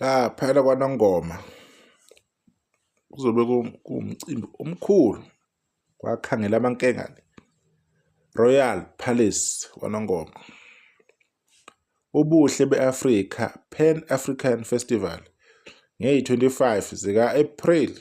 laphayana kwanongoma kuzobe kuwumcimbi omkhulu kwakhangela amankengane royal palace kwanongoma ubuhle be-afrika pan african festival ngeyi-25 zika-april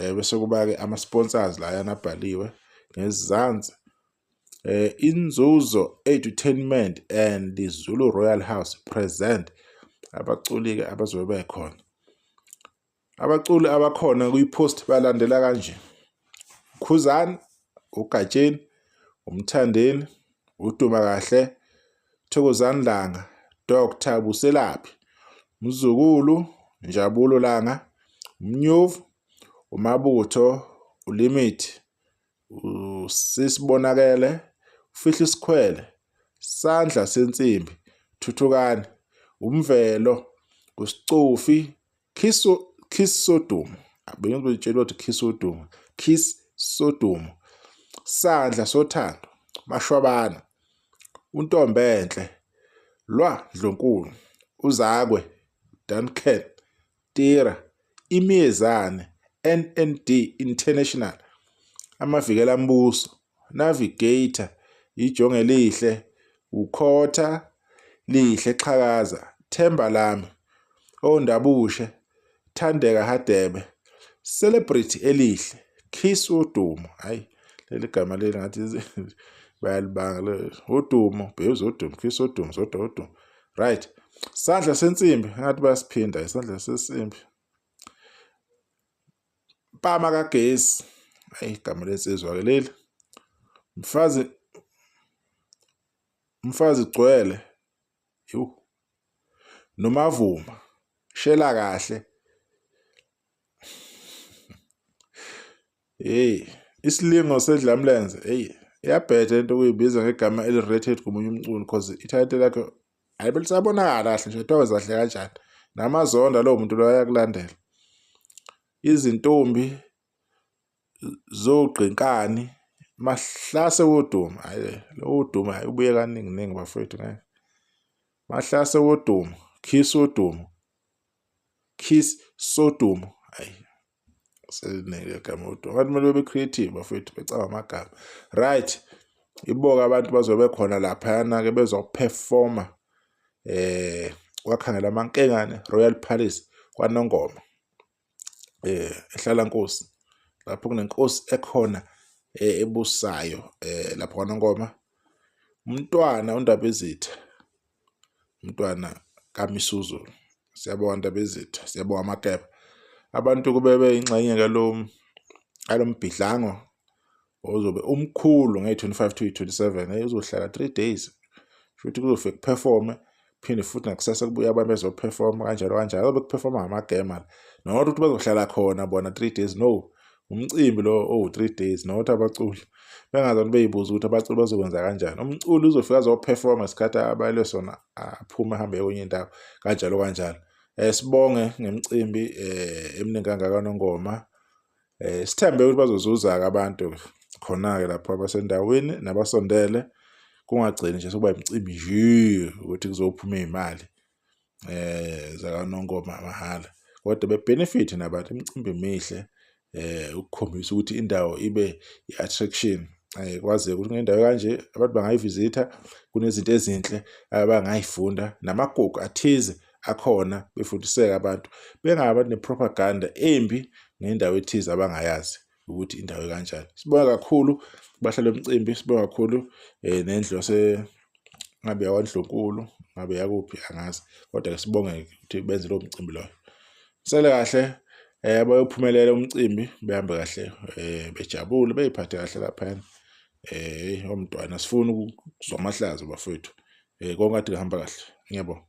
eh bese kuba ke ama sponsors la yana bhaliwe ngezansi eh inzuzo edutainment and Zulu Royal House present abaculi ke abazobe bekhona abaculi abakhona kuyipost balandela kanje Khuzani uGatsheni umthandeni uduma kahle Thokozani Langa, Dr Buselaphi, Mzukulu, Njabulo Langa, Mnyuvu, uMabutho, uLimit, uSisibonakele, uFihli Sikhwele, Sandla Sensimbi, Thuthukani, uMvelo, uSicufi, Kiss kiss sodumo. Abanye betshelwa ukuthi kiss sodumo. Kiss sodumo. Sandla sothando. Mashwabana. Untombenhle. Lwa Ndlonkulu. Uzakwe. Duncan. Tira. Imiyezane. NND International. Amavikela mbuso. Navigator, Ijonge lihle, Ukhotha, Lihle Xhakaza, Themba Lami, Ondabushe, Thandeka Hadebe, Celebrity Elihle, Kiss Udumo. Hayi, leli gama leli ngathi bayalibanga le udumo, Babes Udumo, Kiss Udumo, Zoda Udumo. Right. Sandla sensimbi, ngathi bayasiphinda isandla sensimbi. Mpama kagesi. Hayi igama lensizwa ke leli. Mfazi Mfazi gcwele. Yho. Nomavuma. Shela kahle. Hey, isilingo sedlamlenze. Hey, iyabheda into kuyibiza ngegama eli-rated komunye umculi because i-title lakhe hayi phela usabonakala kahle nje kuthiwa wezahle kanjani namazonda lowo muntu loyo ayakulandela izintombi zogqinkani mahlase woduma hayi lo woduma hayi ubuye kaningi ningi bafowethu ngeke mahlase woduma kiss woduma kiss sodumo hayi selinele igama kodwa abantu kumele bebe creative bafethu becaba amagama right iboka abantu bazobe khona laphayana ke bezoperforma eh kwakhangela amankengane Royal Palace kwanongoma eh ehlala nkosi lapho kunenkosi ekhona eh, ebusayo eh lapho kwanongoma umntwana undabezitha umntwana kaMisuzo siyabonga Ndabezitha siyabonga Makeba abantu kube beyingxenye ngalo ngalo mbhidlango ozobe umkhulu ngeyi-25 to yi-27 hey uzohlala 3 days futhi kuzofe kuperforme phinde futhi nakusasa kubuya abantu bezoperforma kanjalo kanjalo azobe kuperforma ngamagema not ukuthi bazohlala khona bona 3 days no umcimbi lo owu-three days nokuthi abaculi bengazani beyibuza ukuthi abaculi bazokwenza kanjani umculi uzofika azophefoma isikhathi abayele sona aphume ahambe kwenye indawo kanjalo kanjalo um sibonge ngemicimbi um eminingi kangakanongoma um sithembe ukuthi bazozuza-ke abantu khona-ke lapho abasendaweni nabasondele kungagcini nje sokuba imicimbi nje ukuthi kuzophuma iy'mali eh zakanongoma mahhala kodwa bebenefit nabantu imicimbi emihle eh ukukhombisa ukuthi indawo ibe i-attraction eh kwaze ukuthi ngendawo kanje abantu bangayivisitha kunezinto ezinhle abangayifunda namagugu athize akhona befundiseka abantu bengabantu nepropaganda embi ngendawo ethize abangayazi ukuthi indawo kanjani sibonga kakhulu bahlale umcimbi sibonga kakhulu eh nendlu yase ngabe yakwaNdlunkulu ngabe yakuphi angazi kodwa ke sibonge ukuthi benze lo mcimbi loyo sele kahle eh bayophumelela umcimbi behambe kahle eh bejabule beyiphathe kahle lapha eh omntwana sifuna ukuzwa amahlazo bafowethu eh konke athi kuhamba kahle ngiyabonga